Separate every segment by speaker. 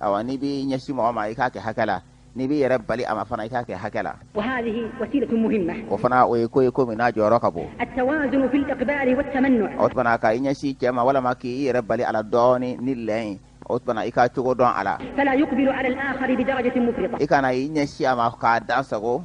Speaker 1: awa n'i b'i ɲɛsin mɔgɔ ma i k'a kɛ hakɛ la n'i b'i yɛrɛ bali a ma fana i k'a kɛ hakɛ
Speaker 2: la o fana o ye ko ye ko
Speaker 1: min n'a jɔyɔrɔ ka bon
Speaker 2: o tuma na ka i
Speaker 1: ɲɛsin cɛ ma walama k'i yɛrɛ bali a la dɔɔnin ni lɛn ye o tuma na i ka cogo dɔn a la
Speaker 2: i kana i ɲɛsin a
Speaker 1: ma k'a dansago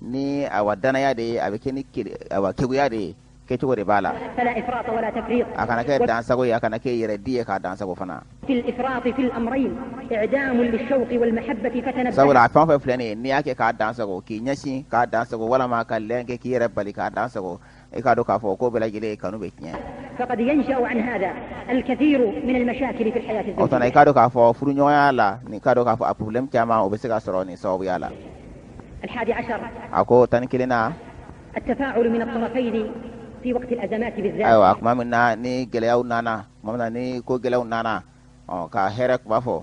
Speaker 1: ni awa danaya de ye a bɛ kɛ ni awa keguya de ye kɛcogo de b'a
Speaker 2: la a kana kɛ dansago ye
Speaker 1: a kana kɛ yɛrɛ di ye k'a dansago fana
Speaker 2: sabula a fan fan fila nin
Speaker 1: n'i y'a kɛ k'a dansago k'i ɲɛsin k'a dansago walama ka lɛn kɛ k'i yɛrɛ bali k'a dansago i k'a dɔn k'a fɔ k'o bɛɛ lajɛlen kanu bɛ
Speaker 2: tiɲɛ o tuma na i k'a dɔn k'a fɔ furuɲɔgɔnya
Speaker 1: la ni k'a dɔn k'a fɔ a problème caman o bɛ se ka sɔrɔ nin sababuya la
Speaker 2: a ko
Speaker 1: tan ni
Speaker 2: kelennan ayiwa kuma min na ni
Speaker 1: gɛlɛyaw nana tuma min na ni ko gɛlɛyaw nana ɔ ka hɛrɛ kuma fɔ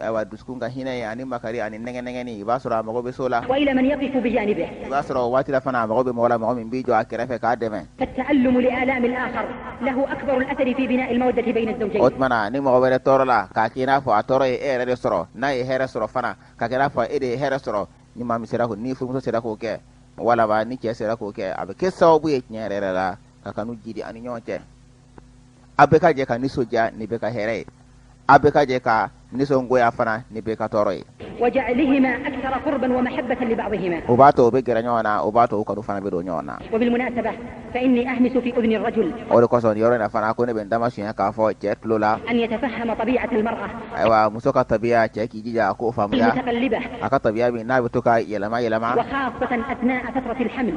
Speaker 1: ayiwa dusukun ka hinɛ ye ani makari ani nɛgɛnɛgɛni i b'a sɔrɔ a mago bɛ s'o la wa ila man yaqifu
Speaker 2: bijanibihi i b'a sɔrɔ o waati la
Speaker 1: fana a mago bɛ mɔgɔ la mɔgɔ min b'i jɔ a kɛrɛfɛ k'a dɛmɛ fattaallumu li
Speaker 2: alamil akhar lahu akbar al asari fi binail mawaddati bayna zawjayni o tuma na ni mɔgɔ
Speaker 1: wɛrɛ tɔɔrɔla k'a k'i n'a fɔ a tɔɔrɔ ye e yɛrɛ de sɔrɔ n'a ye hɛrɛ sɔrɔ fana k'a k'i n'a fɔ e de ye hɛrɛ sɔrɔ ni maa min sera k'o ni furumuso sera k'o kɛ walama ni cɛ sera k'o kɛ a bɛ kɛ sababu ye tiɲɛ yɛrɛ yɛrɛ la ka kanu jiidi a ni ɲɔgɔn cɛ a bɛɛ ka jɛ ka nisɔndiya ni bɛɛ ka hɛrɛ ye a bɛɛ ka jɛ ka nisɔngoya fana ni bɛɛ ka tɔɔrɔ ye
Speaker 2: o b'a to o bɛ gɛrɛ
Speaker 1: ɲɔgɔn na o b'a to o kanu fana bɛ don ɲɔgɔn
Speaker 2: na o de kosɔn yɔrɔ in
Speaker 1: na fana ko ne bɛ n damasuɲɛ k'a fɔ cɛ tulo la
Speaker 2: ayiwa muso
Speaker 1: ka tabiya cɛ k'i jija a ko faamuya a ka
Speaker 2: tabiya min
Speaker 1: n'a bɛ to ka yɛlɛma
Speaker 2: yɛlɛma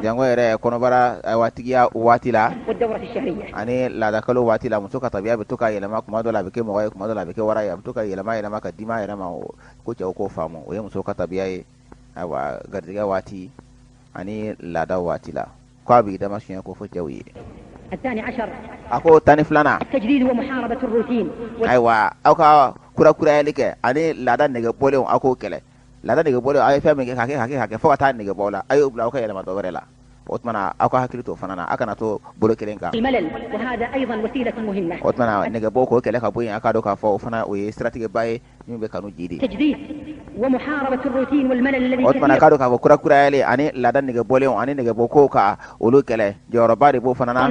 Speaker 2: jango yɛrɛ kɔnɔbara
Speaker 1: awa tigiya waati la
Speaker 2: ani laadakalo
Speaker 1: waati la muso ka tabiya bɛ to ka yɛlɛma kuma dɔ la a bɛ kɛ mɔgɔ ye kuma dɔ la a bɛ kɛ wara ye a bɛ to ka yɛlɛma yɛlɛma ka dima yɛlɛma o ko cɛw k'o faamu o ye muso ka tabiya ye ayiwa garijɛgɛ waati ani laada waati la ko a b'i dama siɲɛ k'o fɔ cɛw
Speaker 2: ye a ko tan
Speaker 1: ni
Speaker 2: filanan ayiwa aw ka
Speaker 1: kurakurayali kɛ ani laada nege bɔlenw aw k'o kɛlɛ laada nege bɔlenw aw ye fɛn min kɛ k'a kɛ k'a kɛ k'a kɛ fo ka taa nege bɔ la a y'o bila aw ka yɛlɛma dɔ wɛrɛ la o tuma na aw ka hakili to o fana na aw kana to bolo kelen kan
Speaker 2: o tuma na nege bɔ k'o
Speaker 1: kɛlɛ ka bɔ yen a k'a dɔn k'a fɔ o fana o ye siratigɛba ye min bɛ kanu jiidi
Speaker 2: o tuma na k'a dɔn k'a fɔ
Speaker 1: kurakurayali ani laada nege bɔlenw ani nege bɔ kow ka olu kɛlɛ jɔyɔrɔba de b'o fana na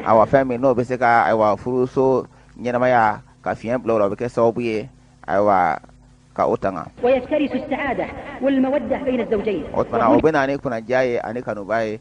Speaker 2: awa fɛn min n'o bɛ
Speaker 1: se ka ayiwa furuso ɲɛnamaya ka fiɲɛ bila o la o bɛ kɛ sababu ye ayiwa ka o tanga
Speaker 2: o tuma na o bɛ na ni
Speaker 1: kunadiya ye ani kanuba ye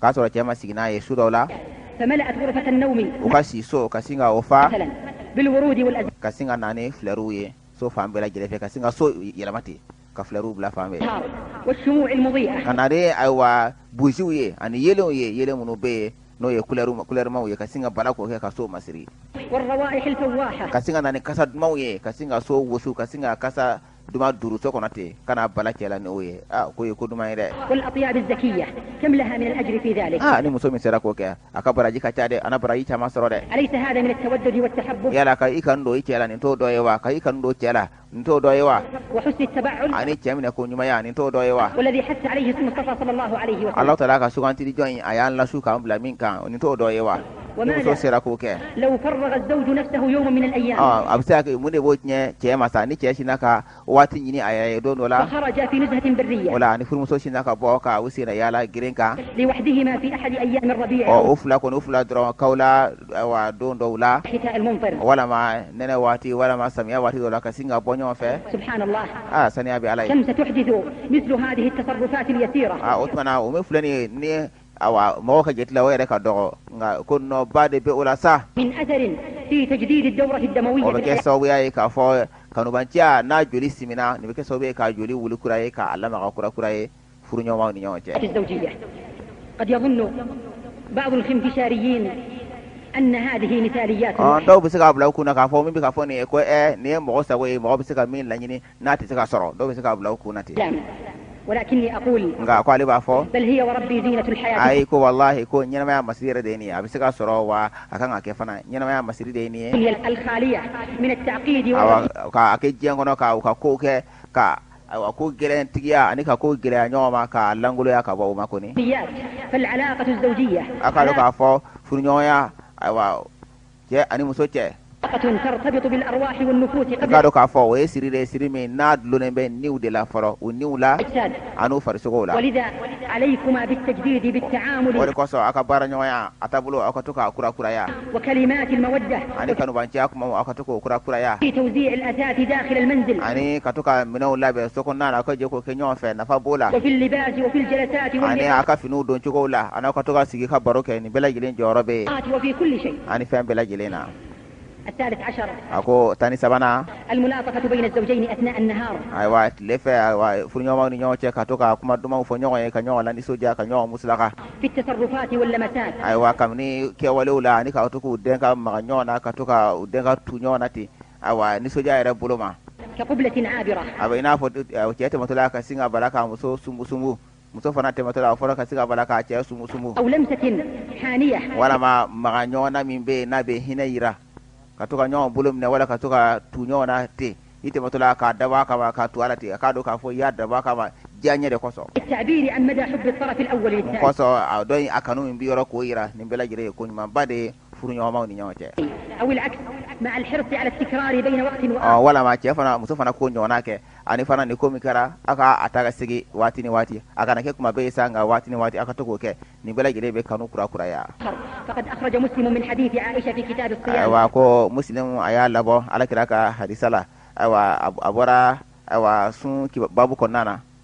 Speaker 1: k'a sɔrɔ cɛ ma sigi n'a ye su dɔw
Speaker 2: la u ka si so
Speaker 1: ka sin ka o
Speaker 2: fa ka sin ka na ni
Speaker 1: filɛriw ye so fan bɛɛ lajɛlen fɛ ka sin ka so yɛlɛma ten ka filɛriw bila fan
Speaker 2: bɛɛ ka na
Speaker 1: ni ayiwa buziw ye ani yeelenw ye yeelen minnu bɛ yen n'o ye kulɛrimaw ye ka sin ka bala k'o kɛ ka so masiri
Speaker 2: ka sin ka na ni kasa
Speaker 1: dumanw ye ka sin ka so wusu ka sin ka kasa duman duuru so kɔnɔ ten ka na bala cɛ la n'o ye aa ko ye ko duman ye
Speaker 2: dɛ aa ni muso min sera k'o kɛ
Speaker 1: a ka baraji ka ca dɛ a na baraji caman sɔrɔ dɛ
Speaker 2: yala ka i kanu don
Speaker 1: i cɛ la nin t'o dɔ ye wa ka i kanu don cɛ la nin t'o dɔ ye
Speaker 2: wa ani cɛ minɛ ko
Speaker 1: ɲumanya nin t'o dɔ ye wa
Speaker 2: Alahu taala ka sugantili
Speaker 1: jɔn in a y'an lasu k'an bila min kan nin t'o dɔ ye wa muso sera k'o
Speaker 2: kɛ a bɛ se ka kɛ mun
Speaker 1: de b'o tiɲɛ cɛ ma sa ni cɛ sina ka waati ɲini a yɛrɛ ye don dɔ la
Speaker 2: wala ni furumuso
Speaker 1: sina
Speaker 2: ka
Speaker 1: bɔ ka u sen na yaala geren kan
Speaker 2: u fila kɔni u
Speaker 1: fila dɔrɔn kawula don dɔw la
Speaker 2: walima
Speaker 1: nɛnɛ waati walima samiya waati dɔ la ka sin ka bɔ ɲɔgɔn fɛ
Speaker 2: saniya bɛ ala ye o tuma o min filɛ
Speaker 1: nin awa mɔgɔ ka jate la o yɛrɛ ka dɔgɔ nka ko nɔba de bɛ o la
Speaker 2: sa bɛ kɛ sababuya
Speaker 1: ye
Speaker 2: k'a
Speaker 1: fɔ kanubanciya n'a joli simina nin bɛ kɛ sababu ye ka joli wili kura ye k'a lamaga kura kura ye furuɲɔgɔnmaw ni ɲɔgɔn
Speaker 2: cɛ dɔw bɛ se k'a bila u
Speaker 1: kun na k'a fɔ min bɛ ka fɔ nin ye ko nin ye mɔgɔ sago ye mɔgɔ bɛ se ka min laɲini n'a tɛ se ka sɔrɔ dɔw bɛ se k'a bila u kun na ten
Speaker 2: nka ko ale b'a fɔ ayi ko walahi ko
Speaker 1: ɲɛnamaya masiri yɛrɛ de ye nin ye a bɛ se ka sɔrɔ wa a kan ka kɛ fana ɲɛnamaya masiri de ye nin ye
Speaker 2: k'a kɛ
Speaker 1: diɲɛ kɔnɔ ka u ka ko kɛ ka ayiwa ko gɛlɛntigiya ani ka ko gɛlɛya ɲɔgɔn ma k'a lankoloya ka bɔ u ma kɔni
Speaker 2: a k'a dɔn k'a fɔ
Speaker 1: furuɲɔgɔnya ayiwa cɛ ani muso
Speaker 2: cɛ k'a dɔn k'a fɔ o
Speaker 1: ye siri de siri min n'a dulonnen bɛ niw de la fɔlɔ u niw la ani farisogo
Speaker 2: la
Speaker 1: o de kosɔn aw ka
Speaker 2: baara ɲɔgɔnya
Speaker 1: a taabolo aw ka to k'a kura
Speaker 2: kuraya ani kanubanciya
Speaker 1: kuma aw ka to k'o kura
Speaker 2: kuraya ani ka to
Speaker 1: ka minɛnw labɛn so kɔnɔna na aw ka jɛ k'o kɛ ɲɔgɔn fɛ nafa b'o la
Speaker 2: ani aw ka finiw
Speaker 1: don cogo
Speaker 2: la
Speaker 1: ani aw ka to ka sigi ka baro kɛ nin bɛɛ lajɛlen jɔyɔrɔ bɛ yen
Speaker 2: ani fɛn bɛɛ lajɛlen na a ko tan
Speaker 1: ni sabanan
Speaker 2: ayiwa tile fɛ
Speaker 1: ayiwa furuɲɔgɔnmaw ni ɲɔgɔn cɛ ka to ka kuma dumanw fɔ ɲɔgɔn ye ka ɲɔgɔn lanisɔndiya ka ɲɔgɔn musalaka
Speaker 2: ayiwa
Speaker 1: kabini kɛwalew la ani ka to k'u dɛn ka maga ɲɔgɔn na ka to ka u dɛn ka tu ɲɔgɔn na ten ayiwa nisɔndiya yɛrɛ bolo ma
Speaker 2: a bɛ i n'a fɔ
Speaker 1: cɛ tɛmɛtɔla ka sin ka bala k'a muso sunbusunbu muso fana tɛmɛtɔ la o fana ka sin ka bala k'a cɛ
Speaker 2: sumusumu walama maga
Speaker 1: ɲɔgɔn na min bɛ n'a bɛ hinɛ jira ka to ka ɲɔgɔn bolo minɛ wala ka to ka tu ɲɔgɔn na ten i tɛmɛtɔ la k'a dabɔ a kama ka tu a la ten a k'a dɔn k'a fɔ i y'a dabɔ a kama diyanyɛ de
Speaker 2: kosɔn kosɔn a
Speaker 1: dɔn
Speaker 2: a kanu
Speaker 1: min b'i yɔrɔ k'o jira nin bɛɛ lajɛlen ye ko ɲumanba de ye furuɲɔgɔnmaw ni ɲɔgɔn
Speaker 2: cɛ walama cɛ fana muso
Speaker 1: fana k'o ɲɔgɔnna kɛ ani fana ni ko min kɛra aw ka a ta ka segin waati ni waati a kana kɛ kuma bɛɛ sa nka waati ni waati aw ka to k'o kɛ nin bɛɛ lajɛlen bɛ kanu kurakuraya
Speaker 2: ayiwa ko
Speaker 1: muslim a y'a labɔ ala kira ka hadisa la ayiwa a bɔra ayiwa sun babu kɔnɔna na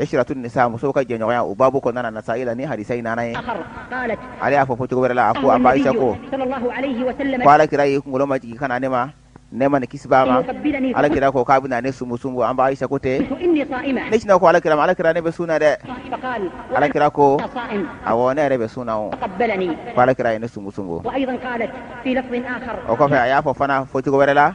Speaker 1: isiratu nisa musow ka jɛɲɔgɔnya o babu kɔnɔna na nasa'i la ni hadisa in nana
Speaker 2: ye ale y'a fɔ fɔcogo
Speaker 1: wɛrɛ la a ko an ba aisa
Speaker 2: ko ko ala kira y'i
Speaker 1: kunkolo
Speaker 2: majigin
Speaker 1: ka na ne ma nɛɛma ni kisi b'a ma ala kira ko k'a
Speaker 2: bɛna ne
Speaker 1: sumusumu an ba aisa ko ten ne
Speaker 2: sinna ko ala
Speaker 1: kira ma
Speaker 2: ala
Speaker 1: kira ne bɛ sun na dɛ
Speaker 2: ala kira
Speaker 1: ko
Speaker 2: awɔ ne yɛrɛ bɛ sun
Speaker 1: na o kɔ ala kira
Speaker 2: ye ne
Speaker 1: sumusumu
Speaker 2: o kɔfɛ a y'a fɔ fana
Speaker 1: fɔcogo wɛrɛ la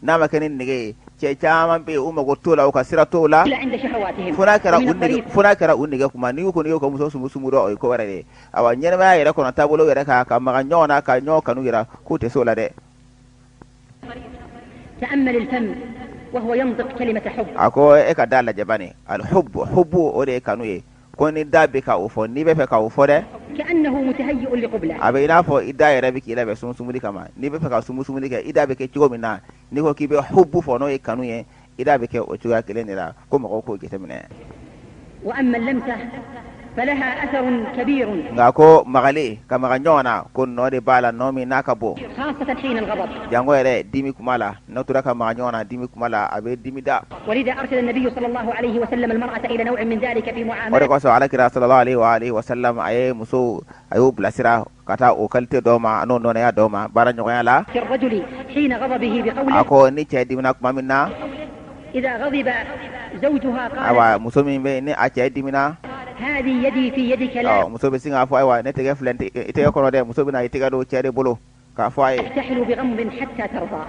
Speaker 1: n'a ma kɛ ni nɛgɛ ye cɛ caman bɛ u mago t'o la u ka sira t'o la fo n'a kɛra u nɛgɛ kuma n' kɔni y'o ka muso sumusumu dɔrɔn o ye ko wɛrɛ ye ayiwa ɲɛnamaya yɛrɛ kɔnɔ taabolo yɛrɛ kan ka maga ɲɔgɔn na ka ɲɔgɔn kanu jira k'u tɛ s'o la
Speaker 2: dɛ a ko e ka da lajɛ
Speaker 1: bani al hubu hubu o de ye kanu ye ko ni da bɛ ka o fɔ n'i bɛ fɛ ka o fɔ
Speaker 2: dɛ a bɛ i n'a fɔ i da
Speaker 1: yɛrɛ bɛ k'i labɛn sumusumuli kama n'i bɛ fɛ ka sumusumuli kɛ i da bɛ kɛ cogo min na n'i ko k'i bɛ hubu fɔ n'o ye kanu ye i da bɛ kɛ o cogoya kelen de la ko mɔgɔw k'o
Speaker 2: jateminɛ nka ko magali
Speaker 1: ka maga ɲɔgɔn na ko nɔ de b'a la nɔ min n'a ka bon
Speaker 2: jango yɛrɛ dimi
Speaker 1: kuma la N'aw tora ka maga ɲɔgɔn na dimi kuma la a bɛ dimi
Speaker 2: da o de kosɔn ala kira
Speaker 1: salalahu alayihi wa alihi wa salamu a ye muso a y'o bilasira ka taa o kalite dɔ ma an'o ɲɔgɔnnaya dɔ ma baaraɲɔgɔnya la
Speaker 2: a ko ni cɛ
Speaker 1: dimina kuma min
Speaker 2: na ayiwa muso min bɛ
Speaker 1: ni a cɛ dimina
Speaker 2: muso bɛ sin k'a fɔ ayiwa ne
Speaker 1: tɛgɛ filɛ i tɛgɛ kɔnɔ dɛ muso bɛna i tɛgɛ don cɛ de bolo k'a fɔ a
Speaker 2: ye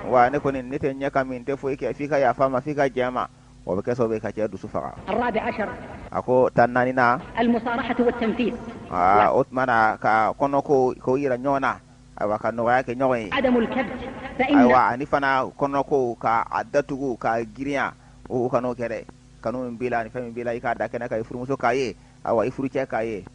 Speaker 2: wa ne kɔni ne tɛ
Speaker 1: ɲɛ kɔmi n tɛ foyi kɛ f'i ka yafa n ma f'i ka jɛn n ma o bɛ kɛ sababu ka cɛ dusu faga
Speaker 2: a ko tan ni naaninan o tuma na
Speaker 1: ka kɔnɔko ko jira ɲɔgɔn na ayiwa ka nɔgɔya kɛ ɲɔgɔn
Speaker 2: ye ayiwa ani
Speaker 1: fana kɔnɔko ka a datugu ka girinya o kan'o kɛ dɛ kanu min b'i la ani fɛn min b'i la i k'a da kɛnɛ kan i furumuso k'a ye ayiwa i furucɛ k'a ye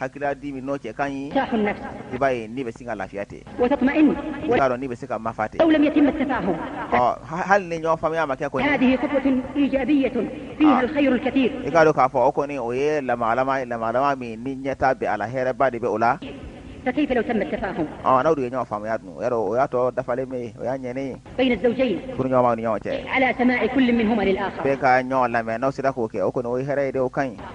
Speaker 1: hakilila di min n'o cɛ ka ɲi i
Speaker 2: b'a ye ni bɛ sin
Speaker 1: ka lafiya
Speaker 2: tɛ b'a dɔn ni bɛ se
Speaker 1: ka mafa
Speaker 2: tɛ hali ni
Speaker 1: ɲɔgɔn faamuya ma kɛ ko
Speaker 2: i k'a dɔn k'a fɔ o kɔni
Speaker 1: o ye lamagalamaga min ni ɲɛtaa bɛ a la hɛrɛba de bɛ o
Speaker 2: la n'aw de ye
Speaker 1: ɲɔgɔn faamuya dun o y'a tɔ dafalen bɛ ye o y'a
Speaker 2: ɲɛnen ye furuɲɔgɔnma ni ɲɔgɔn cɛ ka ɲɔgɔn lamɛn
Speaker 1: n'aw sera k'o kɛ o kɔnɔ o hɛrɛ ye dɛ o ka ɲi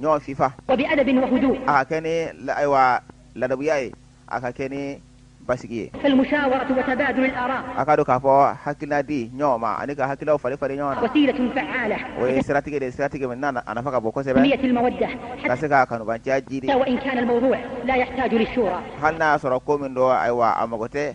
Speaker 1: ɲɔgɔn fifa wa bi adabin wa
Speaker 2: hudu a ka kɛ ni
Speaker 1: ayiwa ladabuya ye a ka kɛ ni basigi ye fal mushawaratu wa
Speaker 2: tabadul al ara a k'a dɔn k'a fɔ
Speaker 1: hakilina di ɲɔgɔn ma ani ka hakililaw falen falen ɲɔgɔn na wasilatun
Speaker 2: fa'ala o ye siratigɛ de
Speaker 1: ye siratigɛ min n'a a nafa ka bon kosɛbɛ tanmiyat al mawadda
Speaker 2: ka se ka
Speaker 1: kanubanciya jiidi wa in kana al mawdu' la
Speaker 2: yahtaju
Speaker 1: lishura hali n'a y'a
Speaker 2: sɔrɔ ko
Speaker 1: min don
Speaker 2: ayiwa
Speaker 1: a
Speaker 2: mago tɛ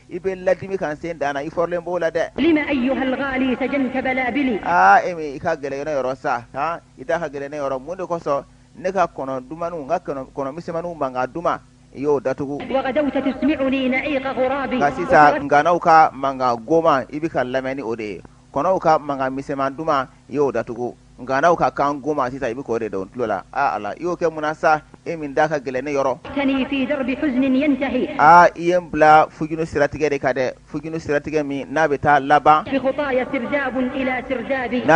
Speaker 1: i bɛ n ladimi kan sen dan na i fɔrɔlen b'o la dɛ lima ayyuhal
Speaker 2: ghali sajanta balabili aa e min i ka
Speaker 1: gɛlɛn ne yɔrɔ sa han i da ka gɛlɛn ne yɔrɔ mun de kosɔn ne ka kɔnɔ dumaniw n ka kɔnɔ misɛnmaninw mankan duman i y'o datugu wagadawta
Speaker 2: tusmi'uni na'iqa ghurabi nka sisan
Speaker 1: nganaw ka mankan goman i bɛ ka n lamɛn ni o de ye kɔnɔw ka mankan misɛnman duman i y'o datugu nganaw ka kan goman sisan i bɛ k'o de don n tulo la aa ala i y'o kɛ mun na sa e min da ka gɛlɛn ne
Speaker 2: yɔrɔ aa i ye n bila
Speaker 1: huzunu siratigɛ de kan dɛ huzunu siratigɛ min n'a bɛ taa laban
Speaker 2: n'a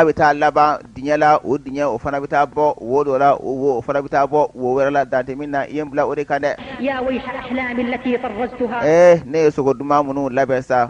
Speaker 2: bɛ taa
Speaker 1: laban dingɛ la o dingɛ o fana bɛ taa bɔ wo dɔ la o fana bɛ taa bɔ wo wɛrɛ la dan tɛ min na i ye n bila o de
Speaker 2: kan dɛ ne ye sugo
Speaker 1: duman minnu labɛn sa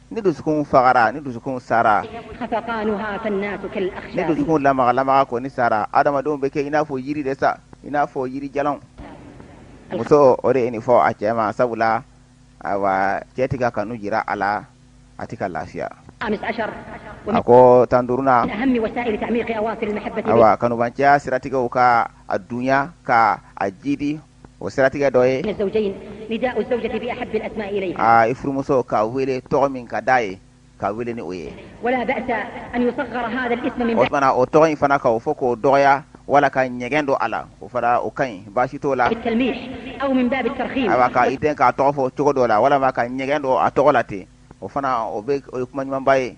Speaker 1: ni dusukun fagara ni dusukun
Speaker 2: sara ni dusukun
Speaker 1: lamagalamaga kɔni sara adamadenw bɛ kɛ i n'a fɔ yiri de sa i n'a fɔ yirijalan muso o de ye nin fɔ a cɛ ma sabula ayiwa cɛ tɛ ka kanu jira a la a tɛ ka
Speaker 2: lafiya a ko tan
Speaker 1: duurunan
Speaker 2: ayiwa
Speaker 1: kanubanciya siratigɛ ka a dunya ka a jidi o siratigɛ dɔ
Speaker 2: ye i furumuso k'a
Speaker 1: wele tɔgɔ min ka di a ye k'a wele ni o ye
Speaker 2: o tɔgɔ in fana ka
Speaker 1: o fɔ k'o dɔgɔya wala ka ɲɛgɛn don a la o fana o ka ɲi baasi t'o la
Speaker 2: i den k'a tɔgɔ
Speaker 1: fɔ cogo dɔ la walima ka ɲɛgɛn don a tɔgɔ la ten o fana o bɛ o ye kuma ɲumanba ye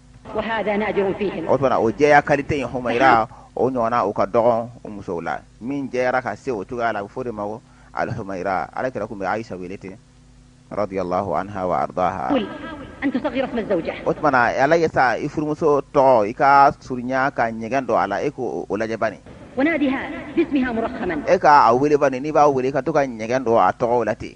Speaker 2: o tuma o jɛya
Speaker 1: kalite in humaira o ɲɔgɔnna o ka dɔgɔn o musow la min jɛyara ka se o cogoya la a bɛ fɔ o de ma ko al humaira ala kira tun bɛ ayisa wele ten radiyallahu anha wa
Speaker 2: ardaha o tuma a lajɛ
Speaker 1: sa i furumuso tɔgɔ i k'a surunya ka ɲɛgɛn don a la e k'o lajɛ
Speaker 2: bani e k'a wele bani
Speaker 1: n'i b'a weele ka to ka ɲɛgɛn don a tɔgɔ la ten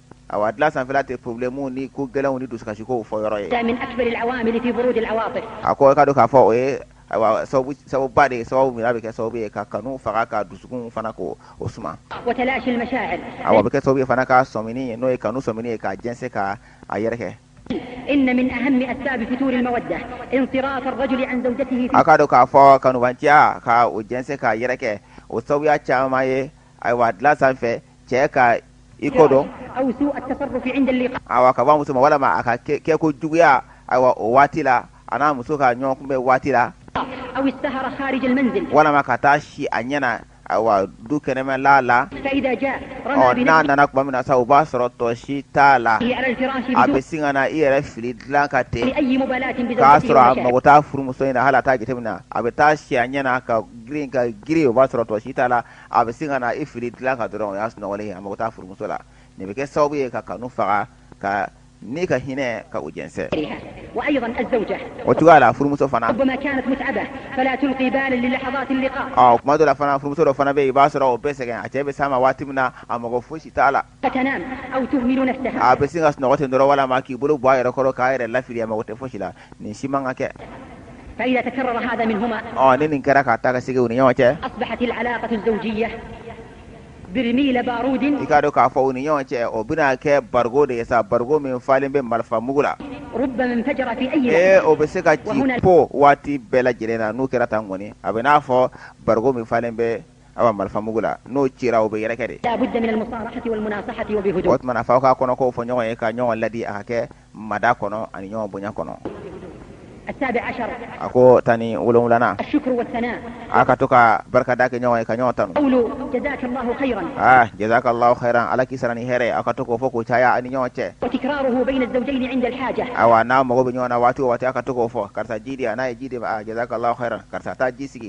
Speaker 1: Awa dilan sanfɛla tɛ pɔrɔbilɛmuw ni ko gɛlɛnw ni dusukasikow fɔ yɔrɔ
Speaker 2: ye a ko k'a dɔn k'a fɔ
Speaker 1: o ye sababu ba de ye sababu min a bɛ kɛ sababu ye ka kanu faga ka dusukun fana k'o suma
Speaker 2: awa a bɛ kɛ sababu ye
Speaker 1: fana ka sɔmini n'o ye kanu sɔmini ye ka jɛnsɛn ka a yɛrɛkɛ
Speaker 2: a k'a dɔn k'a fɔ kanubaja
Speaker 1: ka o jɛnsɛn k'a yɛrɛkɛ o sababuya caman ye ayiwa dilan sanfɛ cɛ ka i kɔ
Speaker 2: don awa ka ban muso ma
Speaker 1: walima a ka kɛko juguya awa o waati la a n'a muso ka ɲɔgɔn kunbɛn waati la
Speaker 2: walima ka taa si
Speaker 1: a ɲɛ na awa du kɛnɛmala
Speaker 2: la n'a
Speaker 1: nana tuma
Speaker 2: min na sa
Speaker 1: o b'a sɔrɔ tɔ si t'a la
Speaker 2: a bɛ sin ka na i yɛrɛ
Speaker 1: fili dilan kan ten
Speaker 2: k'a sɔrɔ a
Speaker 1: mago t'a
Speaker 2: furumuso
Speaker 1: in
Speaker 2: na hali
Speaker 1: a t'a jateminɛ a bɛ taa si a ɲɛ na ka girin ka girin o b'a sɔrɔ tɔ si t'a la a bɛ sin ka na i fili dilan kan dɔrɔn o y'a sunɔgɔlen ye a mago t'a furumuso la nin bɛ kɛ sababu ye ka kanu faga ka ni ka hinɛ ka u jɛnsɛn
Speaker 2: o cogoya la
Speaker 1: furumuso
Speaker 2: fana tuma dɔ la fana furumuso
Speaker 1: dɔ fana bɛ yen i b'a sɔrɔ o bɛ sɛgɛn a cɛ bɛ s'a ma waati min na a mago fosi t'a la
Speaker 2: a bɛ sin ka sunɔgɔ ten
Speaker 1: dɔrɔn walima k'i bolo bɔ a yɛrɛ kɔrɔ k'a yɛrɛ lafili a mago tɛ fosi la nin si man kan ka
Speaker 2: kɛ ni nin kɛra ka taa
Speaker 1: ka segin u ni ɲɔgɔn cɛ
Speaker 2: i k'a dɔn k'a fɔ u
Speaker 1: ni ɲɔgɔn cɛ o bɛna kɛ bariko de ye sa bariko min falen bɛ marifa mugu
Speaker 2: la ee o bɛ se ka ci
Speaker 1: po waati
Speaker 2: bɛɛ
Speaker 1: lajɛlen na n'o kɛra tan kɔni a bɛ n'a fɔ bariko min falen bɛ awa marifa mugu la n'o cira o bɛ yɛrɛkɛ
Speaker 2: de o tuma f'a k'a kɔnɔko
Speaker 1: fɔ ɲɔgɔn ye ka ɲɔgɔn laadi a k'a kɛ mada kɔnɔ ani ɲɔgɔn bonya kɔnɔ
Speaker 2: a ko tan ni wolonwulanan a ka to ka
Speaker 1: barikada kɛ ɲɔgɔn ye ka ɲɔgɔn
Speaker 2: tanu jazakallahu
Speaker 1: khayran ala k'i sara ni hɛrɛ a ka to k'o fɔ k'o caya a ni ɲɔgɔn
Speaker 2: cɛ awa n'a mago bɛ ɲɔgɔn
Speaker 1: na waati o waati a ka to k'o fɔ karisa ji di a n'a ye ji d'i ma jazakallahu khayran karisa taa ji sigi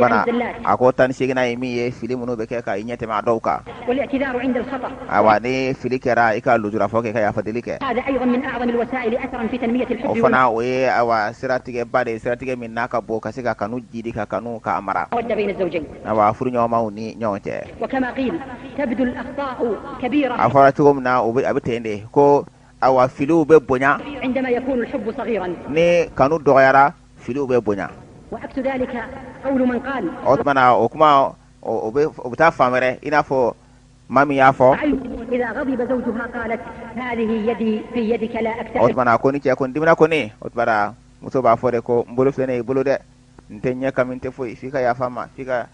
Speaker 2: bana a ko
Speaker 1: tan ni
Speaker 2: seginnan
Speaker 1: ye min ye fili minnu bɛ kɛ ka i ɲɛtɛmɛ a dɔw
Speaker 2: kan awa ni
Speaker 1: fili kɛra i ka lujurafɔ kɛ ka yafadeli kɛ
Speaker 2: o fana o ye
Speaker 1: awa siratigɛba de ye siratigɛ min n'a ka bon ka se ka kanu jidi ka kanu k'a
Speaker 2: mara awa
Speaker 1: furuɲɔgɔnmaw ni ɲɔgɔn
Speaker 2: cɛ a fɔra cogo min na
Speaker 1: a bɛ ten de ko awa filiw bɛ bonya
Speaker 2: ni kanu
Speaker 1: dɔgɔyara filiw bɛ
Speaker 2: bonya o tuma na o
Speaker 1: kuma o bɛ taa fan wɛrɛ i n'a fɔ maa min y'a fɔ
Speaker 2: o tuma ko ni cɛ kɔni
Speaker 1: dimina ko ni a dusu bɔra muso b'a fɔ de ko n bolo filɛ nin ye i bolo dɛ n tɛ ɲɛ kɔmi n tɛ foyi f'i ka yafa n ma f'i ka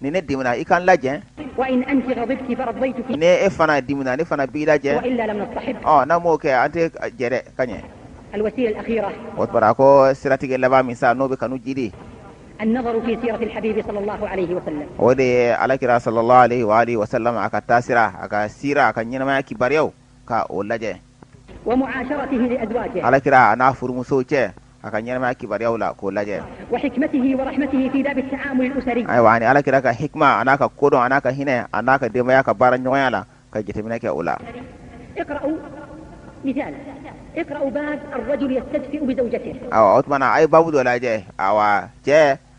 Speaker 1: ni ne dimina i ka n
Speaker 2: lajɛn ni e fana
Speaker 1: dimina ne fana b'i
Speaker 2: lajɛn n'an m'o kɛ an tɛ
Speaker 1: jɛrɛ ka ɲɛ
Speaker 2: o tora ko
Speaker 1: siratigɛ laban min sa n'o bɛ kanu
Speaker 2: jiidi o de ye alakira
Speaker 1: salalahu alayhi wa alihi wa salam a ka taasira a ka sira a ka ɲɛnamaya kibaruyaw ka o
Speaker 2: lajɛ ala kira a n'a
Speaker 1: furumuso cɛ a ka ɲɛnamaya kibaruyaw la k'o lajɛ
Speaker 2: ayiwa ani ala kira ka
Speaker 1: hikima a n'a ka kodɔn a n'a ka hinɛ a n'a ka denbaya ka baara ɲɔgɔnya la ka jateminɛ kɛ o
Speaker 2: la ayiwa o tumana a ye
Speaker 1: babu dɔ lajɛ ayiwa cɛ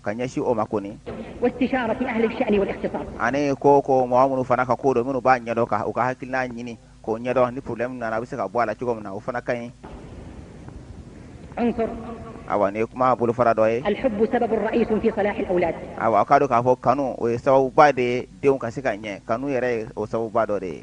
Speaker 1: ka ɲɛsin o ma
Speaker 2: kɔni ani ko
Speaker 1: ko mɔgɔ minnu fana ka kodɔn minnu b'a ɲɛdɔn ka u ka hakilina ɲini k'o ɲɛdɔn ni problème nana a bɛ se ka bɔ a la cogo min na o fana ka ɲi
Speaker 2: awa nin ye
Speaker 1: kuma bolofara dɔ
Speaker 2: ye awa k'a dɔn k'a fɔ
Speaker 1: kanu o ye sababuba de ye denw ka se ka ɲɛ kanu yɛrɛ ye o sababuba dɔ de ye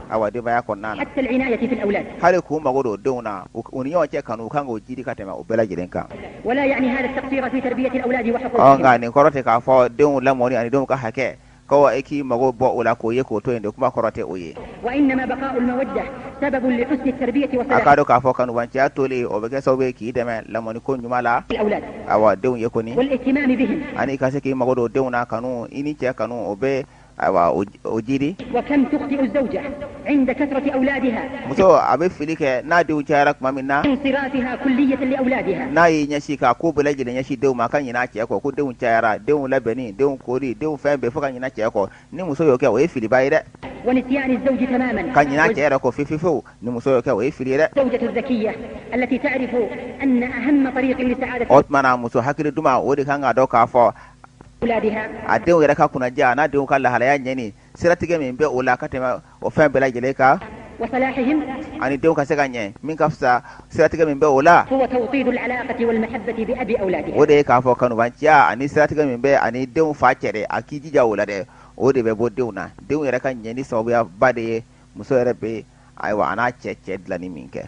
Speaker 2: awa denbaya
Speaker 1: kɔnɔna
Speaker 2: na hali k'u mago don
Speaker 1: denw na u ni ɲɔgɔn cɛ kanu u kan k'o jiri ka tɛmɛ u bɛɛ lajɛlen
Speaker 2: kan nka nin kɔrɔ
Speaker 1: tɛ k'a
Speaker 2: fɔ
Speaker 1: denw lamɔni ani denw ka hakɛ ko e k'i mago bɔ o la k'o ye k'o to yen de kuma kɔrɔ tɛ o
Speaker 2: ye a k'a dɔn k'a fɔ
Speaker 1: kanubanciya tolen o bɛ kɛ sababu ye k'i dɛmɛ lamɔni ko ɲuman la awa denw
Speaker 2: ye kɔni
Speaker 1: ani
Speaker 2: i ka se k'i mago don
Speaker 1: denw na kanu i ni cɛ kanu o bɛ ayiwa o
Speaker 2: jiri muso a bɛ
Speaker 1: fili kɛ n'a denw cayara tuma min
Speaker 2: na n'a y'i ɲɛsin k'a
Speaker 1: ko bɛɛ lajɛlen ɲɛsin denw ma a ka ɲinɛ a cɛ kɔ ko denw cayara denw labɛnni denw koli denw fɛn bɛɛ fo ka ɲinɛ cɛ kɔ ni muso y'o kɛ o ye filiba ye
Speaker 2: dɛ ka ɲinɛ a cɛ yɛrɛ
Speaker 1: kɔ fefefewu ni muso y'o kɛ o ye fili ye
Speaker 2: dɛ o tuma na muso hakili
Speaker 1: duman o de kan k'a dɔn k'a fɔ
Speaker 2: a denw yɛrɛ
Speaker 1: ka kunnaja a n'a denw ka lahalaya ɲɛni siratigɛ min bɛ o la ka tɛmɛ o fɛn bɛɛ lajɛlen
Speaker 2: kan ani denw ka se
Speaker 1: ka ɲɛ min ka fisa siratigɛ min bɛ o la
Speaker 2: o de ye k'a fɔ
Speaker 1: kanubanciya ani siratigɛ min bɛ ani denw fa cɛ dɛ a k'i jija o la dɛ o de bɛ bɔ denw na denw yɛrɛ ka ɲɛni sababuyaba de ye muso yɛrɛ bɛ ayiwa a n'a cɛ cɛ dilanni min kɛ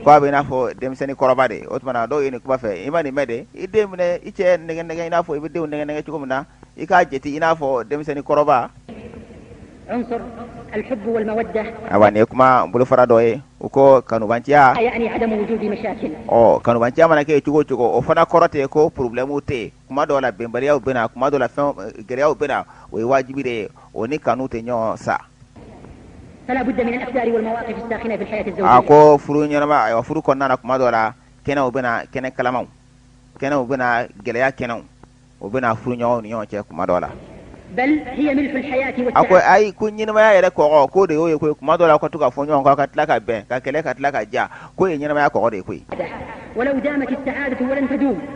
Speaker 1: Ko
Speaker 2: a bɛ i n'a
Speaker 1: fɔ denmisɛnnin kɔrɔba de, o tuma na dɔw ye nin kuma fɛ, i ma nin mɛn de, i den minɛ i cɛ nɛgɛ nɛgɛ i n'a fɔ i bɛ denw nɛgɛ nɛgɛ cogo min na, i k'a jate i n'a fɔ denmisɛnnin kɔrɔba. Unsur
Speaker 2: al-hubbu wal-mawaddah Ayiwa nin ye
Speaker 1: kuma bolofara dɔ ye, u ko kanubanciya, yani adamu wujudi
Speaker 2: mashakil ɔ kanubanciya mana
Speaker 1: kɛ cogo o cogo, o fana kɔrɔ tɛ ko problème tɛ yen. kuma dɔw la bɛnbaliyaw bɛ na kuma dɔ la fɛn gɛlɛyaw bɛ na o ye wajibi de ye o ni kanu tɛ ɲɔgɔn sa
Speaker 2: a ko furu
Speaker 1: ɲɛnamaya furu kɔnɔna na kuma dɔ la kɛnɛw bɛ na kɛnɛ kalamaw kɛnɛw bɛ na gɛlɛya kɛnɛw o bɛ na furuɲɔgɔnw ni ɲɔgɔn cɛ kuma dɔ la
Speaker 2: a ko ayi
Speaker 1: ko ɲɛnamaya yɛrɛ kɔgɔ k'o de y'o ye koyi kuma dɔ la ka to ka fɔ ɲɔgɔn kɔ ka tila ka bɛn ka kɛlɛ ka tila ka diya k'o ye ɲɛnamaya kɔgɔ de ye koyi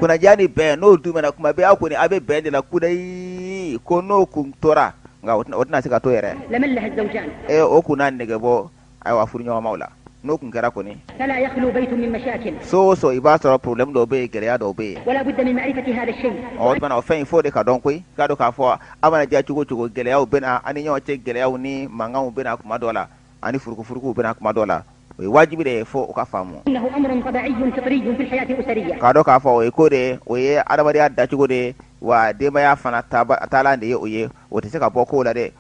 Speaker 2: kunnadiya ni bɛn
Speaker 1: n'o duumɛna kuma bɛɛ aw kɔni aw bɛ bɛn de la kudayi ko n'o kun tora nka o tɛna
Speaker 2: se ka
Speaker 1: to yɛrɛ ee o
Speaker 2: kun
Speaker 1: na nege bɔ ayiwa furuɲɔgɔnmaw la n'o kun kɛra
Speaker 2: kɔni so o so i b'a
Speaker 1: sɔrɔ problème dɔw bɛ yen gɛlɛya dɔw bɛ
Speaker 2: yen o tuma na o fɛn in f'o
Speaker 1: de ka dɔn koyi k'a dɔn k'a fɔ a mana diya cogo o cogo gɛlɛyaw bɛ na ani ɲɔgɔn cɛ gɛlɛyaw ni mankanw bɛ na kuma dɔ la ani furukufurukuw bɛ na kuma dɔ la o ye wajibi de ye fo o ka
Speaker 2: faamu k'a dɔn k'a fɔ o ye ko
Speaker 1: de ye o ye adamadenya dacogo de ye wa denbaya fana taalan de ye o ye o tɛ se ka bɔ ko la dɛ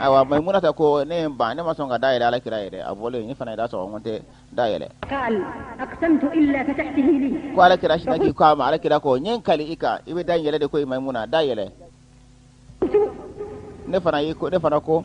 Speaker 2: ayiwa maimuna ta
Speaker 1: ko ne ye ban ne ma sɔn ka da yɛlɛ ala kira yɛrɛ a bɔlen ne fana ye da sɔgɔ ko n tɛ da yɛlɛ
Speaker 2: ko ala kira sinna k'i
Speaker 1: k'a ma ala kira ko n ye n kali i kan i bɛ da yɛlɛ de ko maimuna da yɛlɛ ne fana y'i ko ne fana ko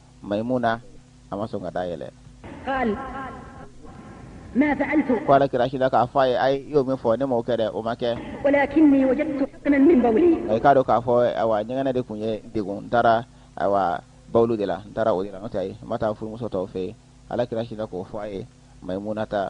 Speaker 1: mayimuna a ma sɔn ka da
Speaker 2: yɛlɛ ko ala kira sinna k'a
Speaker 1: fɔ a ye e y'o min fɔ ne m'o kɛ dɛ o ma kɛ
Speaker 2: i k'a dɔn k'a
Speaker 1: fɔ ayiwa ɲɛgɛnɛ de kun ye n degun n taara ayiwa bawulu de la n taara o de la n'o tɛ ayi n ma taa furumuso tɔw fɛ yen ala kira sinna k'o fɔ a ye mayimuna ta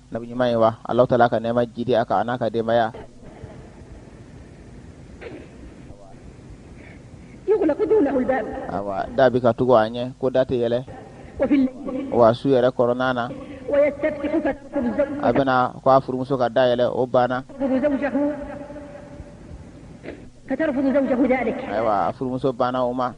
Speaker 1: nabi ɲuman ye wa Alahu taala ka nɛɛma jiidi a kan a n'a ka
Speaker 2: denbaya. Awa da bɛ ka
Speaker 1: tugu a ɲɛ ko da tɛ yɛlɛ
Speaker 2: wa su yɛrɛ
Speaker 1: kɔnɔna
Speaker 2: na a bɛ na ko a
Speaker 1: furumuso ka da yɛlɛ o
Speaker 2: banna ayiwa a furumuso
Speaker 1: banna o ma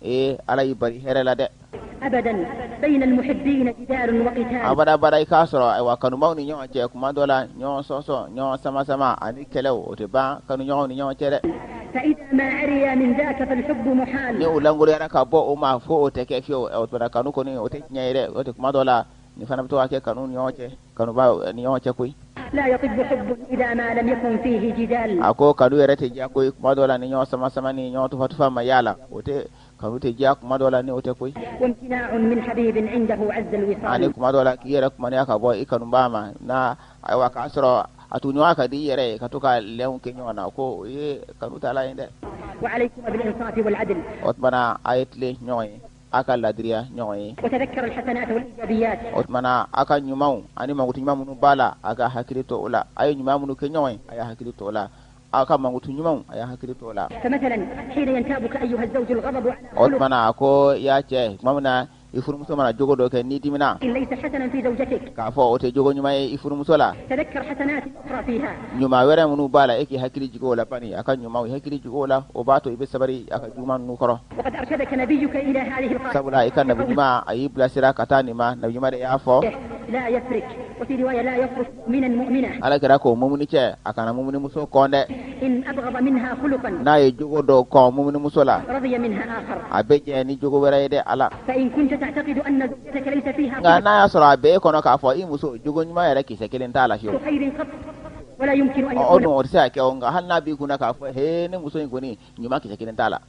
Speaker 1: ee ala y'i bari hɛrɛ la
Speaker 2: dɛ abada abada i k'a sɔrɔ
Speaker 1: ayiwa kanubaw ni ɲɔgɔn cɛ kuma dɔ la ɲɔgɔn sɔsɔ ɲɔgɔn sama sama ani kɛlɛw o tɛ ban kanu ɲɔgɔn ni ɲɔgɔn cɛ
Speaker 2: dɛ ni o
Speaker 1: lankolonyara
Speaker 2: ka bɔ
Speaker 1: o ma fo o tɛ kɛ fiyewu o tuma na kanu kɔni o tɛ tiɲɛ ye dɛ o tɛ kuma dɔ la nin fana bɛ to ka kɛ kanu ɲɔgɔn cɛ kanubaw ni ɲɔgɔn cɛ
Speaker 2: koyi a ko kanu yɛrɛ tɛ diya
Speaker 1: koyi kuma dɔ la ni ɲɔgɔn sama sama ni ɲɔgɔn tufa tufa ma y'a la o tɛ kanu tɛ diya kuma dɔ la ni o tɛ koyi ani kuma dɔ la k'i yɛrɛ kumaniya ka bɔ i kanuba ma na ayiwa k'a sɔrɔ a tugu ɲɔgɔn ka di i yɛrɛ ye ka to ka lɛn kɛ ɲɔgɔn na k'o ye kanu taalan ye dɛ
Speaker 2: o tuma na a ye
Speaker 1: tilen ɲɔgɔn ye aw ka ladiriya ɲɔgɔn
Speaker 2: ye o tuma na aw
Speaker 1: ka ɲumanw ani mankutu ɲuman minnu b'a la aw ka hakili to o la a ye ɲuman minnu kɛ ɲɔgɔn ye a y'a hakili to o la aw ka mankutu ɲumanw a y'a hakili to o la
Speaker 2: o tuma na a ko
Speaker 1: yaa cɛ tuma min na i furumuso mana jogo dɔ kɛ n'i
Speaker 2: dimina k'a fɔ o tɛ jogo
Speaker 1: ɲuman ye i furumuso
Speaker 2: la ɲuman wɛrɛ minnu b'a
Speaker 1: la e k'i hakili jigin o la bani a ka ɲuman hakili jigin o la o b'a to i bɛ sabali a ka juguman ninnu kɔrɔ
Speaker 2: sabula i ka nabi
Speaker 1: ɲuman a y'i bilasira ka taa nin ma nabi ɲuman de y'a
Speaker 2: fɔ ala kira ko mumuni
Speaker 1: cɛ a kana mumunimuso kɔn dɛ
Speaker 2: n'a ye jogo dɔ
Speaker 1: kɔn mumunimuso la
Speaker 2: a bɛ jɛn ni jogo
Speaker 1: wɛrɛ ye dɛ a
Speaker 2: la nka n'a y'a sɔrɔ a bɛ
Speaker 1: e kɔnɔ k'a fɔ i muso jogo ɲuman yɛrɛ kisɛ kelen t'a la fewu
Speaker 2: o dun o tɛ se ka kɛ o nka
Speaker 1: hali n'a b'i kunna k'a fɔ he ne muso in kɔni ɲuman kisɛ kelen t'a la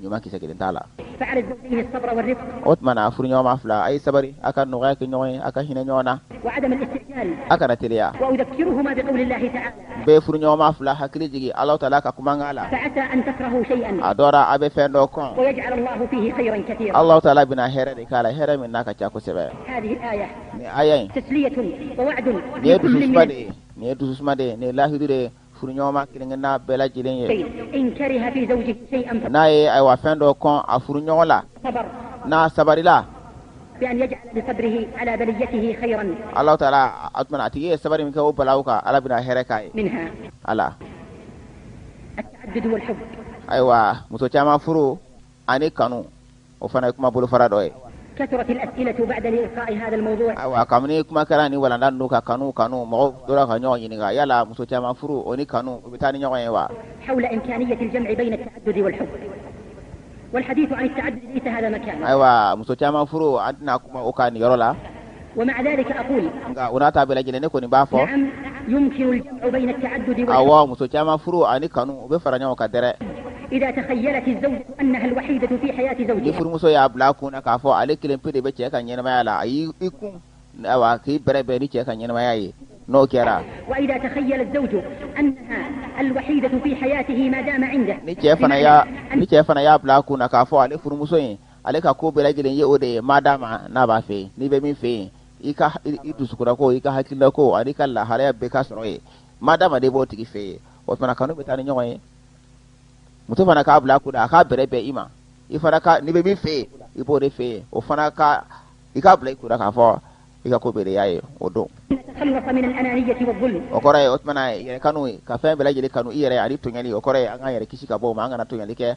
Speaker 1: ɲuman kisɛ kelen t'a
Speaker 2: la o tuma na
Speaker 1: furuɲɔgɔnma fila a ye sabari a ka nɔgɔya kɛ ɲɔgɔn ye a ka hinɛ ɲɔgɔn
Speaker 2: na a kana teliya n bɛ furuɲɔgɔnma
Speaker 1: fila hakili jigin ala taala ka kumakan la
Speaker 2: a dɔra a bɛ fɛn
Speaker 1: dɔ
Speaker 2: kɔn ala taala bɛna
Speaker 1: hɛrɛ de k'a la hɛrɛ min n'a ka ca kosɛbɛ
Speaker 2: nin aya
Speaker 1: nin
Speaker 2: ye dususuma
Speaker 1: de ye nin
Speaker 2: ye
Speaker 1: dususuma de nin ye lahidu de ye furuɲɔgɔnma kelenkelenna bɛɛ lajɛlen
Speaker 2: ye n'a ye ayiwa fɛn
Speaker 1: dɔ kɔn a furuɲɔgɔn la n'a
Speaker 2: sabarila ala
Speaker 1: taala o tuma na a tigi ye sabari min kɛ o balawu kan ala bɛna hɛrɛ k'a ye a
Speaker 2: la ayiwa muso
Speaker 1: caman furu ani kanu o fana ye kuma bolofara dɔ
Speaker 2: ye ayiwa kabini kuma kɛra
Speaker 1: nin walanda don ka kanu kanu mɔgɔ tora ka ɲɔgɔn ɲininka yala muso caman furu o ni kanu u bɛ taa ni ɲɔgɔn ye
Speaker 2: wa ayiwa muso caman
Speaker 1: furu an tɛna kuma o kan nin yɔrɔ la
Speaker 2: nka o n'a ta bɛɛ
Speaker 1: lajɛlen ne kɔni b'a
Speaker 2: fɔ awɔ muso caman
Speaker 1: furu ani kanu u bɛ fara ɲɔgɔn kan dɛrɛ
Speaker 2: ni furumuso y'a bila
Speaker 1: a
Speaker 2: kun na
Speaker 1: k'a fɔ ale kelen pe de bɛ cɛ ka ɲɛnamaya la a y'i i kun awa k'i bɛrɛbɛn ni cɛ ka ɲɛnamaya ye n'o kɛra ni cɛ fana y'a bila a kun na k'a fɔ ale furumuso in ale ka ko bɛɛ lajɛlen ye o de ye madama n'a b'a fɛ n'i bɛ min fɛ yen i ka i dusukunnako i ka hakilinako ani i ka lahalaya bɛɛ ka sɔrɔ yen madama de b'o tigi fɛ yen o fana kanu bɛ taa ni ɲɔgɔn ye muso fana k'a bila a kun na k'a bɛrɛbɛn i ma i fana ka n'i bɛ min fɛ yen i b'o de fɛ yen o fana ka i k'a bila i kun na k'a fɔ i ka ko bɛɛ y'a ye o
Speaker 2: don o kɔrɔ ye o tuma
Speaker 1: na yɛrɛkanu ka fɛn bɛɛ lajɛlen kanu i yɛrɛ ani tɔɲɔli o kɔrɔ ye an k'an yɛrɛ kisi ka bɔ o ma an kana tɔɲɔli kɛ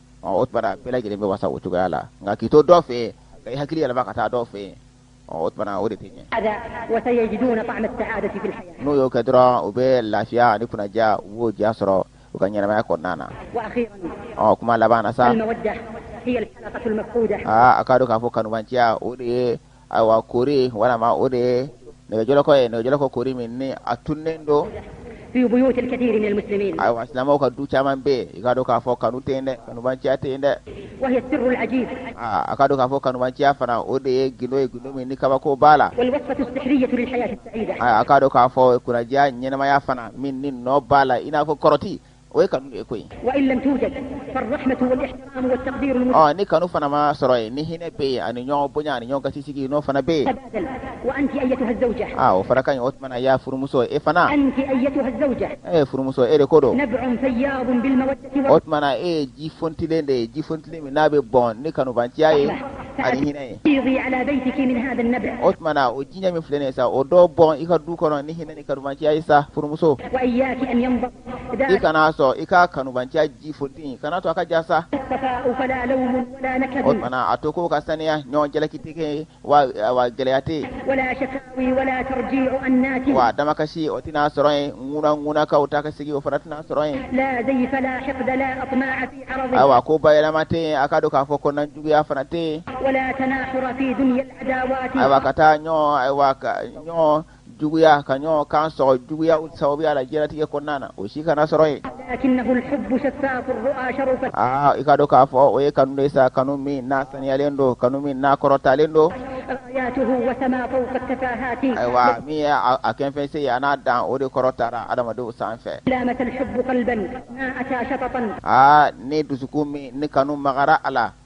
Speaker 1: o tuma na bɛɛ lajɛlen bɛ wasa o cogoya la nka k'i to dɔ fɛ k'i hakili yɛlɛma ka taa dɔ fɛ o tuma na o de tɛ ɲɛ
Speaker 2: n'o y'o kɛ dɔrɔn u bɛ
Speaker 1: lafiya ni kunnadiya o diya sɔrɔ u ka ɲɛnamaya kɔnɔna na
Speaker 2: ɔ kuma laban sa a k'a dɔn k'a fɔ
Speaker 1: kanubanciya o de ye ayiwa koori walima o de ye nɛgɛjɔlɔkɔ ye nɛgɛjɔlɔkɔ koori min ni a tununnen
Speaker 2: don ayiwa silamɛw ka du
Speaker 1: caman bɛ yen i k'a dɔn k'a fɔ kanu tɛ yen dɛ kanubanciya tɛ yen dɛ
Speaker 2: a k'a dɔn k'a
Speaker 1: fɔ kanubanciya fana o de ye gundo ye gundo min ni kabako b'a
Speaker 2: la a k'a dɔn k'a fɔ
Speaker 1: kunnadiya ɲɛnamaya fana min ni nɔ b'a la i n'a fɔ kɔrɔti o ye kanu ye
Speaker 2: koyi ɔ ni kanu fana ma
Speaker 1: sɔrɔ yen ni hinɛ bɛ yen ani ɲɔgɔn bonya ani ɲɔgɔn gasi sigi n'o fana bɛ yen
Speaker 2: aa o fana ka ɲi o tuma
Speaker 1: na ya furumuso e fana
Speaker 2: e ye furumuso e de ko
Speaker 1: don
Speaker 2: o
Speaker 1: tuma na e ye ji funtilen de ye ji
Speaker 2: funtilen min
Speaker 1: n'a bɛ bɔn ni kanubanciya ye ani hinɛ
Speaker 2: ye o tuma na o jiɲɛ min
Speaker 1: filɛ nin ye sa o dɔ bɔn i ka du kɔnɔ ni hinɛ ni kanubanciya ye sa furumuso
Speaker 2: i kana
Speaker 1: sɔn i ka kanubanciya ji funti kana to a ka ja
Speaker 2: sa o tuma na a to ko
Speaker 1: ka saniya ɲɔgɔn jalaki tɛ kɛ wa gɛlɛya tɛ
Speaker 2: yen wa damakasi o tɛna
Speaker 1: sɔrɔ yen ŋuna ŋunakanw ta ka sigi o fana tɛna sɔrɔ
Speaker 2: yen ayiwa ko bayɛlɛma
Speaker 1: tɛ yen a k'a dɔn k'a fɔ kɔnɔna juguya fana tɛ yen
Speaker 2: ayiwa ka taa ɲɔgɔn
Speaker 1: ayiwa ɲɔgɔn juguya ka ɲɔgɔn kan sɔgɔ juguyaw sababuya la diɲɛlatigɛ kɔnɔna na o si kana sɔrɔ
Speaker 2: yen aa i k'a dɔn k'a fɔ
Speaker 1: o ye kanu de sa kanu min n'a saniyalen don kanu min n'a kɔrɔtalen
Speaker 2: don ayiwa min
Speaker 1: ye a kɛfɛn se ye a n'a dan o de kɔrɔtara adamadenw sanfɛ
Speaker 2: aa ni dusukun
Speaker 1: min ni kanu magara a la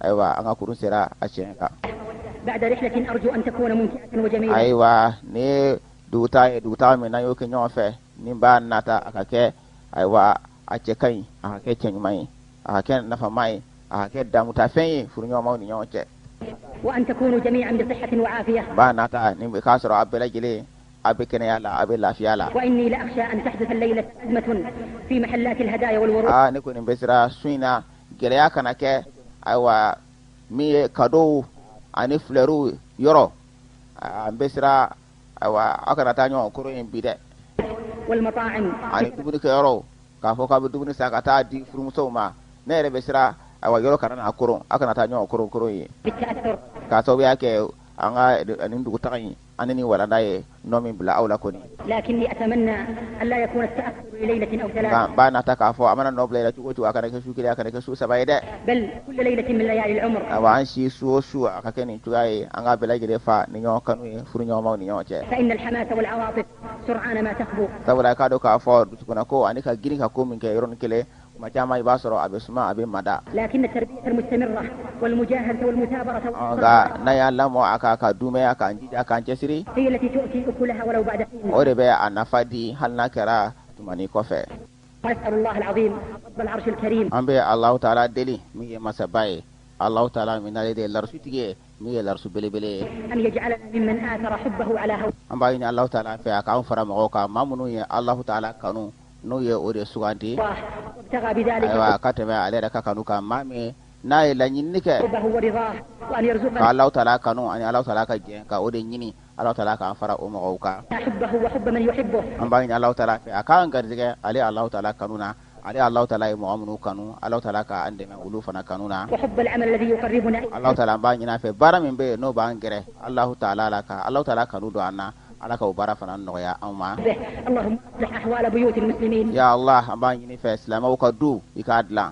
Speaker 1: ayiwa an ka kurun sera a tiɲɛ
Speaker 2: kan ayiwa
Speaker 1: nin dugutaa ye dugutaa min n'an y'o kɛ ɲɔgɔn fɛ ne b'a nata a ka kɛ ayiwa a cɛ ka ɲi a ka kɛ cɛ ɲuman ye a ka kɛ nafama ye a ka kɛ daamutafɛn ye furuɲɔgɔnmaw ni ɲɔgɔn
Speaker 2: cɛ b'a nata nin
Speaker 1: k'a sɔrɔ a bɛɛ lajɛlen a bɛ kɛnɛya la a bɛ lafiya la
Speaker 2: ne kɔni bɛ siran
Speaker 1: su in na gɛlɛya kana kɛ ayiwa min ye kadow ani filɛri yɔrɔ an bɛ siran ayiwa aw kana taa ɲɔgɔn koron yen bi dɛ
Speaker 2: ani dumuni
Speaker 1: kɛ yɔrɔ k'a fɔ k'a bɛ dumuni san ka taa di furumusow ma ne yɛrɛ bɛ siran ayiwa yɔrɔ kana na koron aw kana taa ɲɔgɔn koron koron yen k'a
Speaker 2: sababuya kɛ
Speaker 1: an ka nin dugutaga in ye ani ni walanda ye nɔ min bila aw la kɔni
Speaker 2: b'a nata k'a fɔ a mana
Speaker 1: nɔ bila cogo to a kana kɛ su kelen a kana kɛ su saba ye dɛ
Speaker 2: a an si su o
Speaker 1: su a ka kɛ nin cogoya ye an ka bɛɛ lajɛlen fa ni ɲɔgɔn kanu ye furu ɲɔgɔnmaw ni ɲɔgɔn cɛ
Speaker 2: sabula k'a dɔn k'a fɔ
Speaker 1: dusukun ko ani ka girin ka ko min kɛ yɔrɔ ni kelen Tuma caman i b'a sɔrɔ a bɛ suma a bɛ mada,
Speaker 2: nka n'a y'a
Speaker 1: lamɔ a kan ka dunmɛn a kan k'a jija k'a cɛsiri,
Speaker 2: o de bɛ a nafa
Speaker 1: di hali n'a kɛra tuma ni kɔfɛ,
Speaker 2: an bɛ Allahou ta Alaa
Speaker 1: deli min ye masaba ye, Allahou ta Alaa min n'ale de ye larusitigi ye min ye larusu belebele ye,
Speaker 2: an b'a ɲini Allahou ta Alaa
Speaker 1: fɛ a k'an fara mɔgɔw kan maa minnu ye Allahou ta Alaa kanu. n'o ye o de
Speaker 2: sugandi ayiwa ka tɛmɛ ale
Speaker 1: yɛrɛ ka kanu kan maa min n'a ye laɲini
Speaker 2: kɛ ka Alahu
Speaker 1: taala
Speaker 2: kanu ani
Speaker 1: Alahu taala ka jɛn ka o de ɲini Alahu taala k'an fara o mɔgɔw kan hubbahu
Speaker 2: wa hubba man yuhibbuhu an b'a ɲini Alahu
Speaker 1: taala fɛ a k'an garijɛgɛ ale Alahu taala kanu na ale Alahu taala ye mɔgɔ minnu kanu Alahu taala k'an dɛmɛ olu fana kanu na
Speaker 2: wa hubbal amalil ladhi yuqarribuna ilayhi Alahu taala an b'a ɲini a fɛ
Speaker 1: baara min bɛ yen n'o b'an gɛrɛ Alahu taala la ka Alahu taala kanu don an na Ala k'o baara fana nɔgɔya anw ma.
Speaker 2: Allahumma aslih ahwala buyutil muslimin. Ya Allah an b'a ɲini
Speaker 1: i fɛ silamɛw ka du i k'a dilan.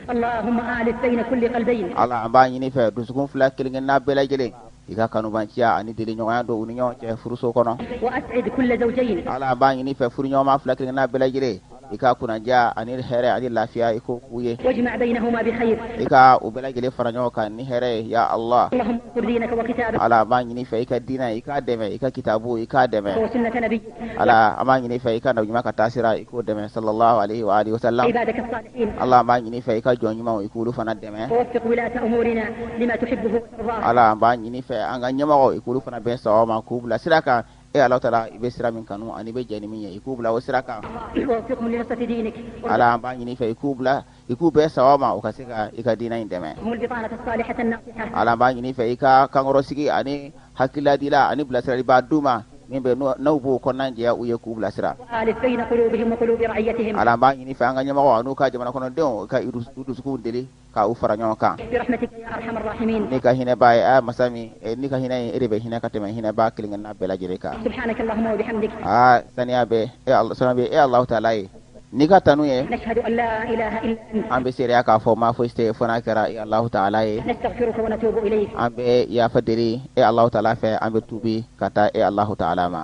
Speaker 2: Allahumma allif bayna kulli qalbayn. Ala an b'a ɲini i
Speaker 1: fɛ dusukun fila kelen kelenna bɛɛ lajɛlen i ka kanubanciya ani deliɲɔgɔnya don u ni ɲɔgɔn cɛ furuso kɔnɔ. Wa as'id kulla
Speaker 2: zawjayn. Ala an b'a ɲini i fɛ
Speaker 1: furuɲɔgɔnma fila kelen kelenna bɛɛ lajɛlen i ka kunnaja ani hɛrɛ ani lafiya i ko k'u ye
Speaker 2: i ka u bɛɛ lajɛlen
Speaker 1: fara ɲɔgɔn kan ni hɛrɛ ye ya allah
Speaker 2: ala b'a ɲini fɛ i ka
Speaker 1: diinɛ i k'a dɛmɛ i ka kitabu i k'a dɛmɛ
Speaker 2: ala an b'a ɲini
Speaker 1: fɛ i ka na ɲuman ka taa sira i k'o dɛmɛ sallallahu alaihi wa alihi wasallam ala
Speaker 2: an b'a ɲini fɛ i ka
Speaker 1: jɔn ɲumanw i k'olu fana dɛmɛ
Speaker 2: ala an b'a ɲini fɛ
Speaker 1: an ka ɲɛmɔgɔ i k'olu fana bɛn sawaba ma k'u bila sira kan e ala taara i bɛ sira min kanu ani bɛ jɛ min ye i k'u bila o sira kan
Speaker 2: ala an b'a ɲini
Speaker 1: fɛ i k'u bila i k'u bɛɛ saba ma u ka se ka i ka diinɛ in dɛmɛ
Speaker 2: ala b'a ɲini fɛ i ka
Speaker 1: kankɔrɔ sigi ani hakililadiila ani bilasiralibaa du ma min bɛ n'u b'o kɔnɔna jɛ u ye k'u bilasira
Speaker 2: ala b'a ɲini fɛ an ka
Speaker 1: ɲɛmɔgɔ n'u ka jamana kɔnɔdenw ka dusu deli ka u fara ɲɔgɔn kan
Speaker 2: n'i ka hinɛ b'a ye a
Speaker 1: masa min eh, n'i ka hinɛ ye e de bɛ hinɛ ka tɛmɛ hinɛ b'a kelenkelenna bɛɛ lajɛlen kan aa saniya
Speaker 2: bɛ
Speaker 1: e saniya bɛ e Alahu
Speaker 2: taala
Speaker 1: ye n'i ka tanu ye
Speaker 2: an bɛ seereya k'a fɔ maa
Speaker 1: foyi tɛ ye fo n'a kɛra e Alahu taala ye
Speaker 2: an bɛ yafa
Speaker 1: deli e Alahu taala fɛ an bɛ tuubi ka taa e Alahu taala ma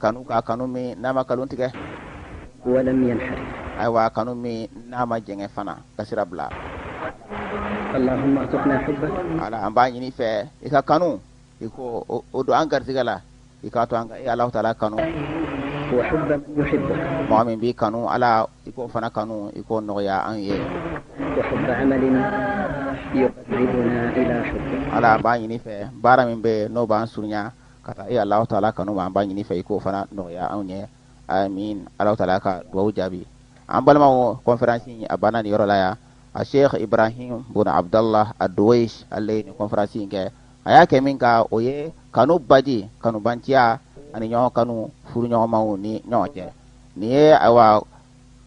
Speaker 1: kanu k'a kanu min n'a ma kalon tigɛ
Speaker 3: walam yanharif ayiwa kanu
Speaker 1: min n'a ma jɛngɛ fana ka sira bila
Speaker 3: allahumma arzuqna hubbak ala an b'a ɲini
Speaker 1: i fɛ i ka kanu i k'o don an garisɛgɛ la i k'a to an ka e alahu taala kanu wa
Speaker 3: hubba man yuhibbuk mɔgɔ min b'i
Speaker 1: kanu ala i k'o fana kanu i k'o nɔgɔya an ye wa hubba
Speaker 3: amalin yuqarribuna ila hubbik ala an b'a ɲini i fɛ
Speaker 1: baara min bɛ yen n'o b'an surunya ka taa e Alahu taala kanu ma an b'a ɲini i fɛ i k'o fana nɔgɔya anw ye amin Alahu taala ka duwawu jaabi an balimaw conférence in a banna nin yɔrɔ la yan a Sheikh Ibrahim bun Abdallah Ad-Duwaish ale ye nin conférence in kɛ a y'a kɛ min kan o ye kanu baji kanubanciya ani ɲɔgɔn kanu furuɲɔgɔnmaw ni ɲɔgɔn cɛ nin ye ayiwa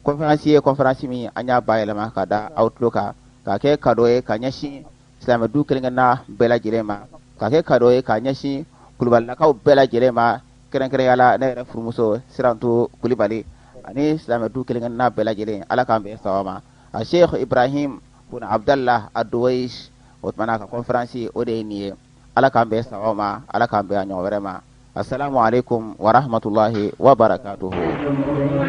Speaker 1: conférence ye conférence min an y'a bayɛlɛma ka da aw tulo kan k'a kɛ cadeau ye ka ɲɛsin silamɛ du kelen-kelenna bɛɛ lajɛlen ma k'a kɛ cadeau ye ka ɲɛsin kulubalilakaw bɛɛ lajɛlen ma kɛrɛnkɛrɛnya la ne yɛrɛ furumuso Sirantu Kulibali ani silamɛ du kelen-kelenna bɛɛ lajɛlen ala k'an bɛn saba ma a Sheikh Ibrahim bun Abdallah Ad-Duwaish o tumana ka conférence o de ye nin ye ala k'an bɛn saba ma ala k'an bɛn a ɲɔgɔn wɛrɛ ma assalamu alaikum wa rahmatullahi wa barakatuhu